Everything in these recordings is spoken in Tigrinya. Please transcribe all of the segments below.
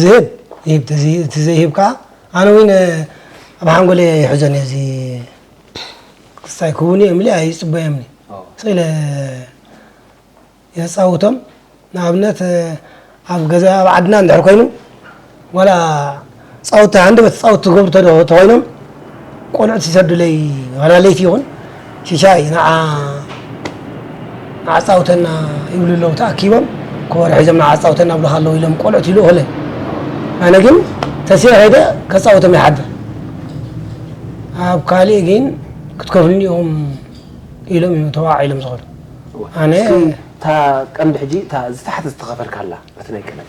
ዝህብ ይህብ እቲ ዘይህብ ከዓ ኣነ እውን ኣብ ሓንጎለ ይሕዞን እዚ ክስታይ ክውን እዮም ሊ ኣይፅበዮም ሊ ስኢለ የፃውቶም ንኣብነት ኣብ ገዛ ኣብ ዓድና እንድሕር ኮይኑ ዋላ ጻውቲ ሃንደበት ትጻውት ትገብሩ ተዶ ተኮይኖም ቆልዑት ይሰዱለይ ዋላ ለይቲ ይኹን ሽሻይ ንዓ ኣጻውተና ይብሉ ኣለዉ ተኣኪቦም ኮበሮ ሒዞም ንዓ ኣጻውተና ብሉካ ኣለዉ ኢሎም ቆልዑት ይልእኹለይ ኣነ ግን ተስየ ከይደ ከጻውቶም ይሓድር ኣብ ካልእ ግን ክትከፍሉኒ ኢኹም ኢሎም እዮም ተዋዒሎም ዝኸዱ ኣነ እታ ቀንዲ ሕጂ እታ ዝተሓተ ዝተኸፈልካ ኣላ በቲ ናይ ቀደም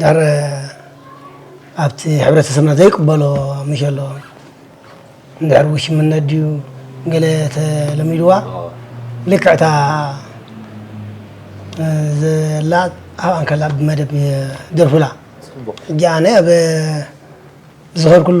ድሕሪ ኣብቲ ሕብረተሰብና ዘይቅበሎ ምሸሎ እንድሕር ውሽምነት ድዩ ገለ ተለሚድዋ ልክዕ እታ ዘላ ኣብ ኣንከላ ብመደብ ደርፉላ ሕጂ ኣነ ኣብ ዝኸርኩሉ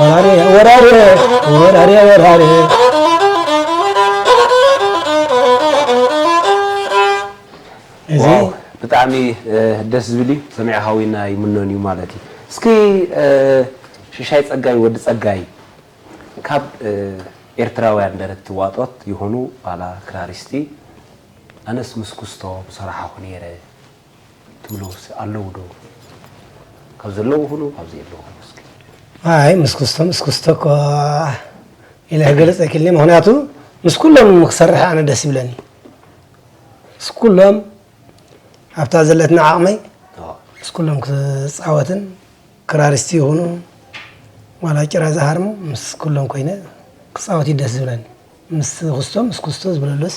ወራሬ ወራሬ ወራሬ ወራሬ እዚ ዋው ብጣዕሚ እ፣ ደስ ዝብል እዩ ሰሚዐ ሃዊና ይምኖን እዩ ማለት እዩ እስኪ እ፣ ሽሻይ ጸጋይ ወዲ ጸጋይ ካብ እ፣ ኤርትራውያን ደረቲ ዋጦት ይኹኑ ዋላ ክራሪስቲ ኣነስ ምስ ኩስቶ ምሰራሓኹ ነይረ ትብሎምስ ኣለዉ ዶ ካብ ዘለዉ ሁኑ ካብ ዘየለዉ ሁኑ እስኪ ኣይ ምስ ክስቶ ምስ ክስቶ እኮ ኢለ ክገልፅ ኣይክልኒ ምክንያቱ ምስ ኩሎም ክሰርሕ ኣነ ደስ ይብለኒ ምስ ኩሎም ኣብታ ዘለትና ዓቕመይ ምስ ኩሎም ክፃወትን ክራሪስቲ ይኹኑ ዋላ ጭራ ዝሃርሙ ምስ ኩሎም ኮይነ ክፃወት እዩ ደስ ዝብለኒ ምስ ክስቶ ምስ ክስቶ ዝብለሉስ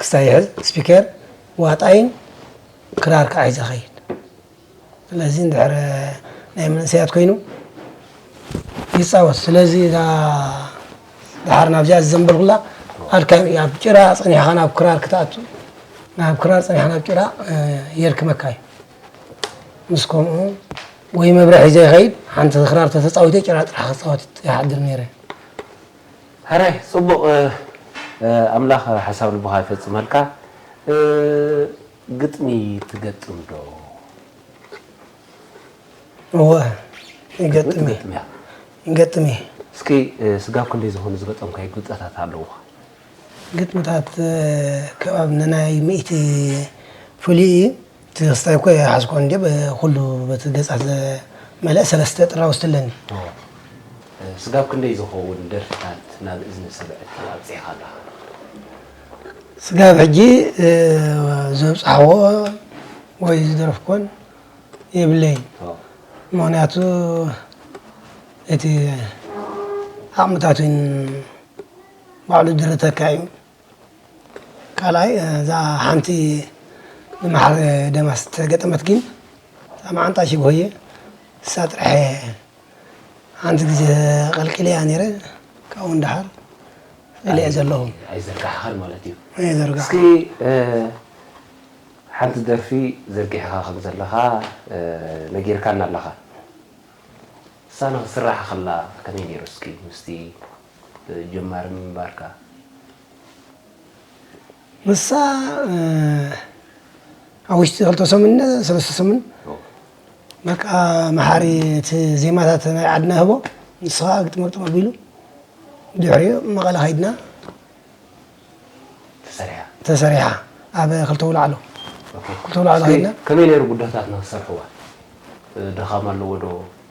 ክሳይ ይሕዝ ስፒከር ዋጣይን ክራር ከዓ ሒዘ ኸይድ ስለዚ እንድሕር ናይ መንእሰያት ኮይኑ ይፃወት ስለዚ እዛ ድሓር ናብዚኣ ዝዘንበልኩላ ኣድካሚ ኣብ ጭራ ፀኒሕኻ ናብ ክራር ክትኣቱ ናብ ክራር ፀኒሕኻ ናብ ጭራ የርክመካ እዩ ምስ ከምኡ ወይ መብርሒ ዘይኸይድ ሓንቲ ክራር ተተፃዊተ ጭራ ጥራሕ ክፃወት ይሓድር ነይረ ሕራይ ጽቡቅ ኣምላኽ ሓሳብ ልብኻ ይፈጽመልካ ግጥሚ ትገጥም ዶ? እወ ይገጥም እየ ይገጥም እየ። እስኪ ስጋብ ክንደይ ዝኾኑ ዝገጠምካዮ ግብጠታት ኣለዉኻ? ግጥምታት ከብ ኣብኒ ናይ ሚእቲ ፍሉይ እዩ። ትሕዝታይ እኮ ኣይሓዝኩን እንድየ ብኩሉ በቲ ገጻት ዝመልአ ሰለስተ ጥራውዝቲ ኣለኒ። ስጋብ ክንደይ ዝኸውን ደርፍታት ናብ እዝኒ ሰምዕቲ ኣብጺሕካ ኣለኻ? ስጋብ ሕጂ ዘብጻሕዎ ወይ ዝደረፍኩዎን የብለይን። ምኽንያቱ እቲ ዓቕምታቱን ባዕሉ ድርተካ'ዩ። ካልኣይ እዛ ሓንቲ ብመሓሪ ደማስ ዝተገጠመት ግን እዛ መዓንጣ ሽግሆየ እሳ ጥራሕ እየ ሓንቲ ግዜ ቀልቂለያ ነይረ ካብኡ ንደሓር ጸሊዐ ዘለኹ ኣይዘርጋሕኻን ማለት እዩ ዘርጋሕ እስኪ ሓንቲ ደርፊ ዘርጊሕኻ ከም ዘለኻ ነጊርካና ኣለኻ እሳ ንኽስራሕ ከላ ከመይ ነይሩ እስኪ ምስቲ ጀማሪ ምንባርካ። ንሳ ኣብ ውሽጢ ክልተ ሰሙን ሰለስተ ሰሙን በቃ መሓሪ እቲ ዜማታት ናይ ዓድና ህቦ ንስኻ ግጥሚ ግጥም ኣቢሉ ድሕሪኡ መቐለ ከይድና ተሰሪሓ ኣብ ክልተ ውላዕሎ ክልተ ውላዕሎ ከይድና ከመይ ነይሩ ጉዳታት ንክሰርሕዋ ድኻም ኣለዎ ዶ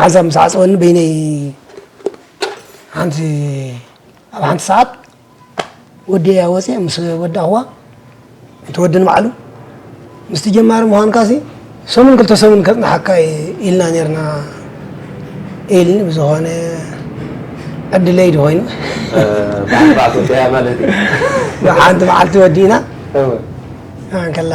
መዓልቲ ምስ ዓፀወኒ በይነይ ሓንቲ ኣብ ሓንቲ ሰዓት ወዲያ ወፂ ምስ ወዳእኹዋ እቲ ወዲ ንባዕሉ ምስቲ ጀማሪ ምዃንካ ሲ ሰሙን ክልተ ሰሙን ከፅናሓካ ኢልና ነርና ኢልኒ ብዝኾነ ዕድለይ ድ ኮይኑ ሓንቲ መዓልቲ ወዲእና ከላ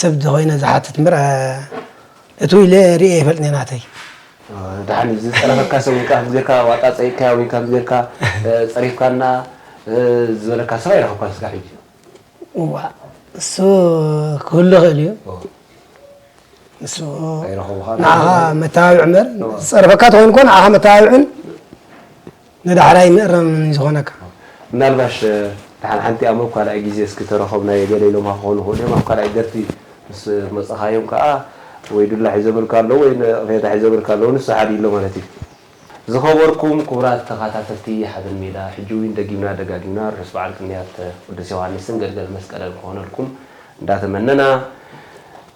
ሰብ ዝኮይነ ዝሓትት እምበር እትው ኢለ ሪኤ ኣይፈልጥን ናተይ። ደሓን እዩ ዝፀረፈካ ሰብ ውልቃ ከምዚ ጌርካ ዋጣ ፀይቅካያ ወይ ከምዚ ጌርካ ፀሪፍካና ዝበለካ ሰብ ኣይረኸብካን እስካብ ሕጂ? እዋእ እሱ ክህሉ ይኽእል እዩ ንሱ ንዓኻ መተባብዒ እምበር ዝፀረፈካ ተኮይኑ እኮ ንዓኻ መተባብዕን ንዳሕራይ ንእረም ንዝኾነካ። ምናልባሽ ድሓን ሓንቲ ኣብ ካልኣይ ግዜ እስኪ ተረኸብናዮ ገለ ኢሎምካ ክኾኑ ይኽእሉ እዮም ኣብ ካልኣይ ደርፊ ምስ መጸኻዮም ከኣ ወይ ዱላ ሒዞምልካ ኣለዉ ወይ ነቕፌታ ሒዞምልካ ኣለዉ ንሱ ሓድ ኢሎ ማለት እዩ። ዝኸበርኩም ክቡራት ተኻታተልቲ ሓበን ሜዳ ሕጂ ዊን ደጊምና ደጋጊምና ርሑስ በዓል ቅንያት ቅዱስ ዮውሃንስን ገልገል መስቀለን ክኾነልኩም እንዳተመነና፣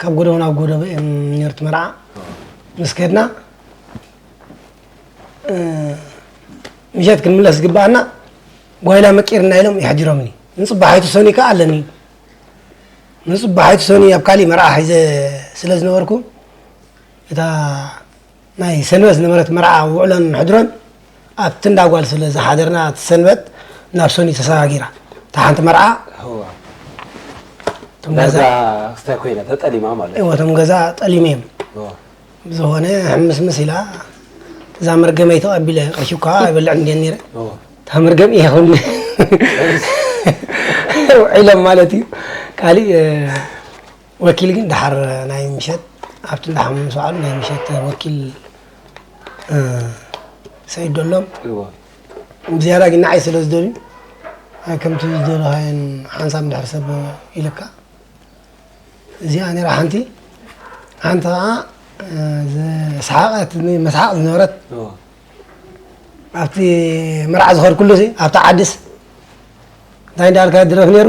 ካብ ጎደቦ ናብ ጎደቦ እዮም ነይሩ እቲ መርዓ ምስ ከድና ምሸት ክንምለስ ዝግብኣና ጓይላ መቂርና ኢሎም ይሕጅሮምኒ ንፅባሓይቱ ሰኒ ከዓ ኣለኒ ንፅባሓይቱ ሰኒ ኣብ ካሊእ መርዓ ሒዘ ስለ ዝነበርኩ እታ ናይ ሰንበት ዝነበረት መርዓ ውዕሎን ሕድሮን ኣብቲ እንዳ ጓል ስለ ዝሓደርና እቲ ሰንበት ናብ ሰኑይ ተሰጋጊራ እታ ሓንቲ መርዓ እቶም ገዛ ዳርጋ ክስታይ ኮይና ተጠሊማ ማለት እዩ እዎ እቶም ገዛ ጠሊሙ እዮም እዎ። ዝኾነ ሕምስምስ ኢላ እዛ መርገመይ ተቐቢለ ቅርሺ እኳ ኣይበልዕን እንዲየ ነይረ እዎ። እታ መርገም እየ ክብል ውዒሎም ማለት እዩ ካሊእ ወኪል ግን ደሓር ናይ ምሸት ኣብቲ እንዳ ሓሙ ምስ በዓሉ ናይ ምሸት ወኪል ሰይዶሎም ብዝያዳ ግን ንዓይ ስለ ዝደልዩ ከምቲ ዝደለኻየን ሓንሳብ ድሕር ሰብ ኢልካ እዚኣ ነራ ሓንቲ ሓንቲ ከዓ ዝስሓቐት መስሓቕ ዝነበረት ኣብቲ መርዓ ዝኸድኩሉ ኣብቲ ዓድስ እንታይ እንዳበልካ ድረፍ ነይሩ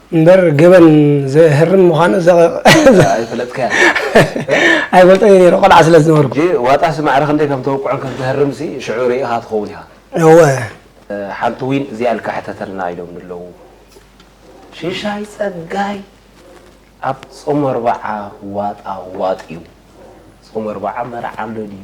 እምበር ገበን ዘህርም ምዃኑ ኣይፈልጠይ ነይረ ቆልዓ ስለ ዝነበርኩ ዋጣ ስማዕሪ ክንደይ ከም ተውቅዖን ከም ተህርም ሲ ሽዑ ርኢኻ ትኸውን ኢኻ እወ ሓንቲ ዊን እዚኣ ኢልካ ሕተተልና ኢሎምኒ ኣለዉ ሽሻይ ጸጋይ ኣብ ጾመ ኣርባዓ ዋጣ ዋጥ እዩ ጾመ ኣርባዓ መርዓ ኣሎ ድዩ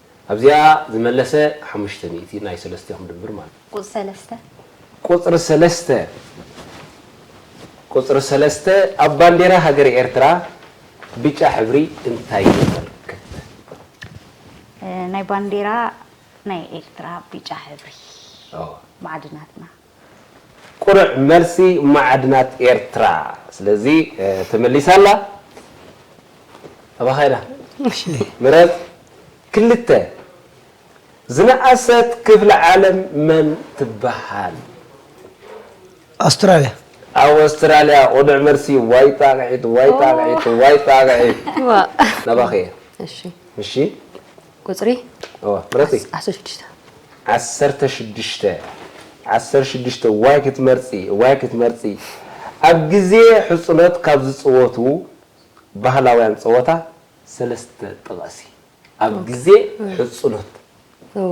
ኣብዚኣ ዝመለሰ ሓሙሽተ ሚእቲ ናይ ሰለስቲኦም ድምር ማለት እዩ። ቁጽሪ ሰለስተ። ቁጽሪ ሰለስተ ቁጽሪ ሰለስተ ኣብ ባንዴራ ሃገረ ኤርትራ ብጫ ሕብሪ እንታይ የመልክት? ናይ ባንዴራ ናይ ኤርትራ ብጫ ሕብሪ። ማዕድናትና። ቁሩዕ መልሲ ማዓድናት ኤርትራ ስለዚ ተመሊሳ ኣላ ኣባካ ኢዳ ምረጽ ክልተ ዝነኣሰት ክፍለ ዓለም መን ትበሃል። ኣውስትራልያ። ኣወስትራልያ ቁዱዕ መልሲ ዋይ ጣቅዒት ዋይ ጣቅዒት ዋይ ጣቅዒት ናባኪ እየ እሺ ቁጽሪ እወ ምረጺ ዓሰርተ ሽዱሽተ ዓሰርተ ሽዱሽተ ዓሰርተ ሽዱሽተ እዋይ ክትመርጺ እዋይ ክትመርጺ ኣብ ግዜ ሕጹኖት ካብ ዝጽወቱ ባህላውያን ጸወታ ሰለስተ ጥቐሲ ኣብ ግዜ ሕጹኖት። እወ።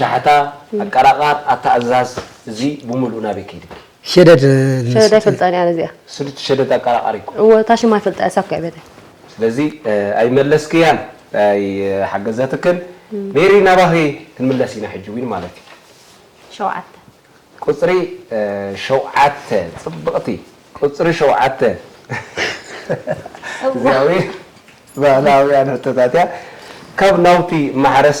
ሻሕታ ኣቀራቃር ኣታኣዛዝ እዚ ብሙሉኡ ናበይ ከይድኪ። ሸደድ ሸደድ ኣይፈልጣን እየ ኣነ እዚኣ። ስሉቲ ሸደድ ኣቀራቃሪ እኮ። እወ እታ ሽማ ይፈልጣ እየ ሳብ ክዕበታ። ስለዚ ኣይመለስክያን ኣይሓገዘትክን ሜሪ ናባኺ ክንምለስ ኢና ሕጂ ዊን ማለት እዩ። ሸውዓተ። ቁጽሪ ሸውዓተ ጽብቅቲ ቁጽሪ ሸውዓተ እዚኣ ዊን ባህላውያን ሕቶታት እያ ካብ ናውቲ ማሕረስ።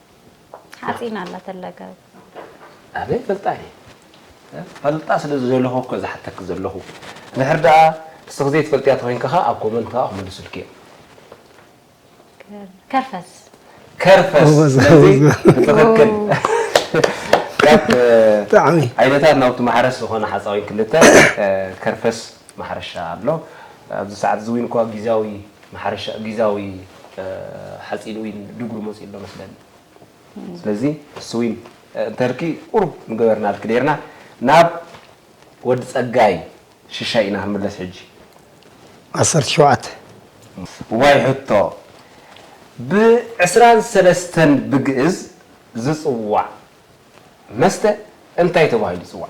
ሓፂን ኣላ ተለገብ ኣበይ ፈልጣ እየ ፈልጣ ስለ ዝደለኹ እኮ ዝሓተኪ ዘለኹ ድሕር ደኣ ንስኺ ዘይትፈልጥያ ተኾይንኪ ከኣ ኣብ ኮመንት ከኣ ክምልሱልኪ እዮም ከርፈስ ከርፈስ ስለዚ ትኽክል ካብ ዓይነታት ናውቲ ማሕረስ ዝኾነ ሓፃዊን ክልተ ከርፈስ ማሕረሻ ኣሎ ኣብዚ ሰዓት እዚ ዊን እኳ ጊዛዊ ማሕረሻ ጊዛዊ ሓጺን ዊን ድጉሪ መጺኡ ኣሎ መስለኒ ስለዚ ንሱ ዊን እንተልኪ ቁሩብ ምገበርናልኪ ኔርና ናብ ወዲ ጸጋይ ሽሻይ ኢና ክንምለስ ሕጂ ዓሰርተ ሸውዓተ። ዋይ ሕቶ ብ ዕስራን ሰለስተን ብግእዝ ዝጽዋዕ መስተ እንታይ ተባሂሉ ይጽዋዕ?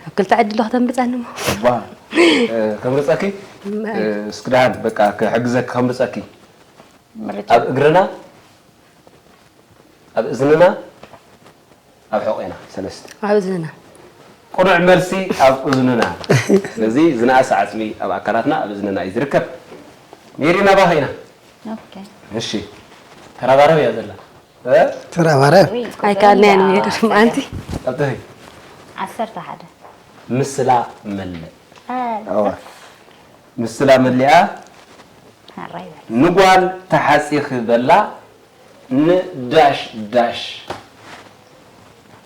ካብ ክልተ ዕድል ዶ ከተምርጸኒ እሞ እባ ከምርጸኪ እስኪ ደሓን በቃ ክሕግዘኪ ከምርጸኪ ምርጫ ኣብ እግርና ኣብ እዝንና ኣብ ሕቝና ሰለስተ ኣብ እዝንና ቅኑዕ መልሲ ኣብ እዝንና ስለዚ ዝነኣሰ ዓጽሚ ኣብ ኣካላትና ኣብ እዝንና እዩ ዝርከብ ሜሪ ናባኺ ኢና ኦኬ እሺ ተረባረብ እያ ዘላ ተራ ማርያም ኣይከኣልና ያን ይገርም ኣንቲ ቀጥሪ ዓሰርተ ሓደ ምስላ መለእ ምስላ መሊኣ ንጓል ተሓፂኺ በላ ንዳሽ ዳሽ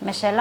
መሸላ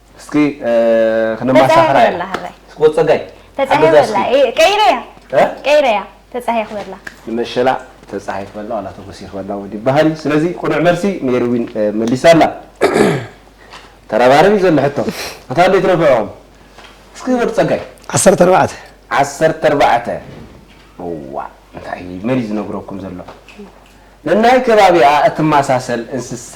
እስኪ ክነማሳኽራ ኢና ወ ፀጋይ ተፃሄ በላ ቀይረያ ቀይረያ ተፃሄ ክበላ ንመሸላ ተፃሄ ክበላ ዋላ ተጎሲ ክበላ ወዲ ይበሃል እዩ ስለዚ ቁኑዕ መልሲ ሜሪ ዊን መሊሳ ኣላ ተረባረብ እዩ ዘሎ ሕቶ እታ እንደ ትረብዕኹም እስኪ ወዲ ፀጋይ ዓሰርተ ኣርባዕተ ዓሰርተ ኣርባዕተ እዋ እንታይ መን እዩ ዝነግረኩም ዘሎ ነናይ ከባቢኣ እትመሳሰል እንስሳ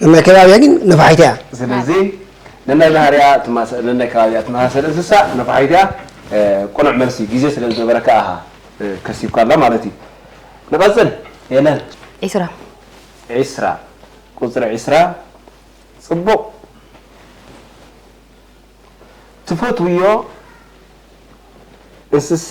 ነናይ ከባቢያ ግን ነፋሒት እያ። ስለዚ ነናይ ባህርያ ትማሰል ነናይ ከባቢያ ትመሳሰል እንስሳ ነፋሒት እያ። ቅኑዕ መልሲ ግዜ ስለ ዝገበረካ ኣሃ ከሲብካ ኣላ ማለት እዩ። ንቐጽል ሄለን። ዒስራ። ዒስራ ቁጽሪ ዒስራ ጽቡቕ። ትፈትውዮ እንስሳ?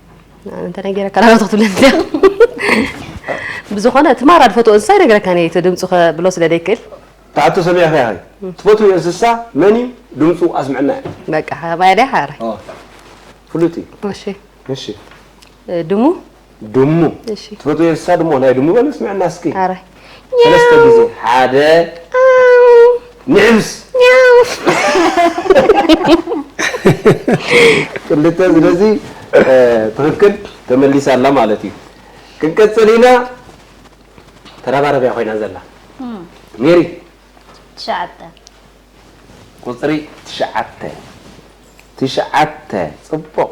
ኣነ ተነጊረካ ናባቶ ክትብለኒ ብዝኾነ እቲ ማራ ድፈትዎ እንስሳ ይነግረካን እየ እቲ ድምፁ ከብሎ ስለ ዘይክእል ትሓቶ ሰሚዕኺ ኢኺ ትፈትዎ እንስሳ መን እዩ ድምፁ ኣስምዐና እዩ በቃ ከማይ ድያ ሓራይ ፍሉጥ እዩ እሺ እሺ ድሙ ድሙ ትፈትዎ እንስሳ ድሙ ናይ ድሙ በለ ስምዐና እስኪ ሓራይ ሰለስተ ግዜ ሓደ ንዕብስ ክልተ ስለዚ ትክክል ተመሊሳ ኣላ ማለት እዩ ክንቀፅል ኢና ተረባረብ እያ ኮይና ዘላ ሜሪ ትሽዓተ ቁፅሪ ትሽዓተ ትሽዓተ ፅቡቕ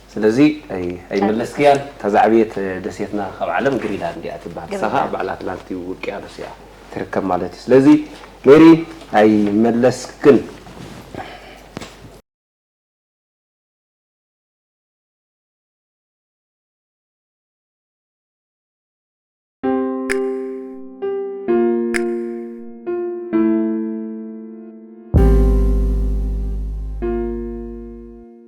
ስለዚ ኣይ ኣይመለስክያን እታ ዝዓበየት ደሴትና ካብ ዓለም ግሪላንድ እያ ትብሃል ንሳ ግሪላንድ። ከኣ ባዕላ ኣትላንቲ ውቅያኖስ እያ ትርከብ ማለት እዩ ስለዚ ሜሪ ኣይመለስክን።